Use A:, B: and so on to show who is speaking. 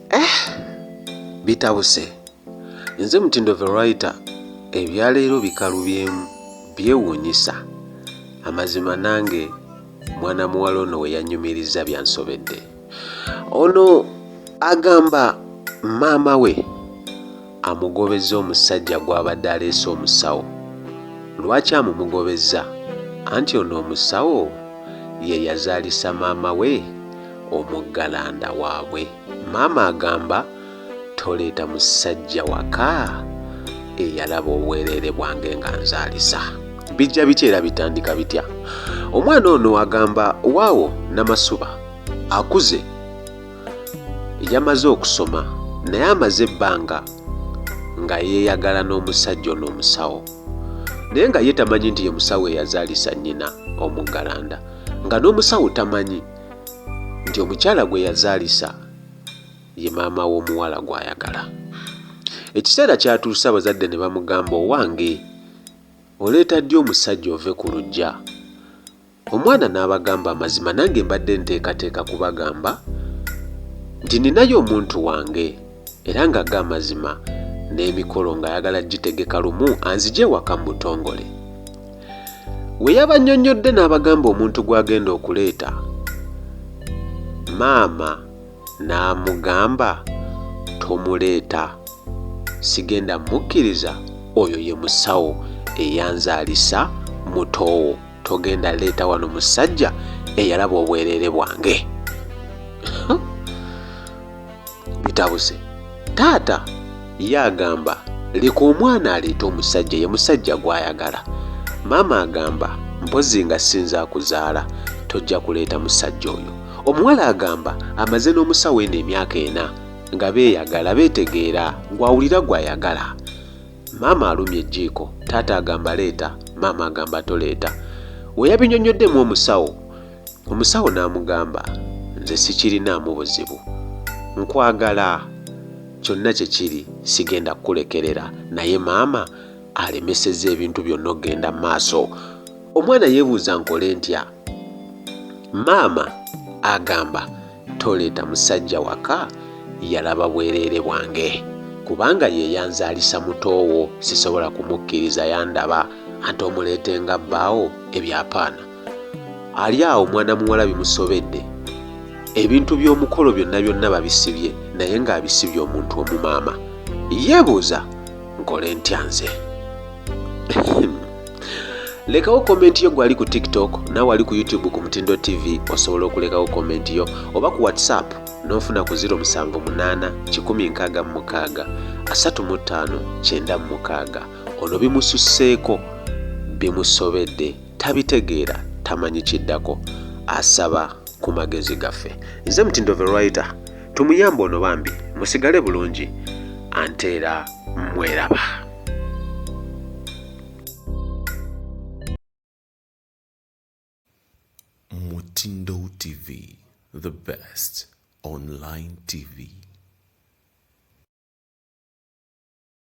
A: Eh,
B: bitabuse nze mutindo verita ebyaleero bikalubyemu byewuunyisa amazima nange mwana muwala ono we yanyumiriza byansobedde ono agamba maama we amugobezza omusajja gw'abadde aleese omusawo. Lwaki amumugobezza? Anti ono omusawo ye yazaalisa maama we omuggalanda waabwe. Maama agamba toleeta musajja waka eyalaba obwereere bwange nga nzaalisa. Bijja bitya era bitandika bitya? Omwana ono agamba waawo Namasuba akuze. yamaze okusoma naye amaze ebbanga nga yeeyagala n'omusajja ono omusawo naye nga ye tamanyi nti ye musawo eyazaalisa nnyina omuggalanda nga n'omusawo tamanyi nti omukyala gwe yazaalisa ye maama w'omuwala gw'ayagala ekiseera kyatuuse abazadde ne bamugamba owange oleeta ddi omusajja ove ku lujja Omwana n'abagamba amazima nange mbadde nteekateeka kubagamba nti ninayo omuntu wange era nga ga amazima n'emikolo ng'ayagala gitegeka lumu anzije ewaka mu butongole. We yabannyonnyodde n'abagamba omuntu gw'agenda okuleeta maama n'amugamba tomuleeta sigenda mukkiriza oyo ye musawo eyanzaalisa mutoowo. togenda leeta wano musajja eyalaba obwereere bwange bitabuse taata ye agamba leka omwana aleete omusajja ye musajja gw'ayagala maama agamba mpozi nga sinza akuzaala tojja kuleeta musajja oyo omuwala agamba amaze n'omusawo eno emyaka ena nga beeyagala beetegeera gw'awulira gw'ayagala Maama alumya ejjiiko, taata agamba leeta, maama agamba toleeta. We yabinyonnyoddemu omusawo, omusawo n'amugamba, Nze sikirinaamu buzibu. Nkwagala. Kyonna kye kiri, sigenda kukulekerera. Naye maama alemesezza ebintu byonna okugenda mu maaso. Omwana yeebuuza nkole ntya? Maama agamba toleeta musajja waka yalaba bwereere bwange kubanga ye yanzaalisa mutoowo sisobola kumukkiriza yandaba ante omuleete nga bbaawo ebyapaana. Ali awo mwana muwala bimusobedde ebintu by'omukolo byonna byonna babisibye naye ng'abisibye omuntu omumaama yeebuuza nkole ntya nze. lekawo komenti yo gwali ku tiktok nawe wali ku youtube ku mutindo tv osobola okulekawo komenti yo oba ku whatsapp n'ofuna ku 078636 ono bimususseeko bimusobedde tabitegeera tamanyi kiddako asaba ku magezi gaffe nze mutindo verwriter tumuyamba ono bambi musigale bulungi anteera mweraba
C: Mutindo TV, the best online TV.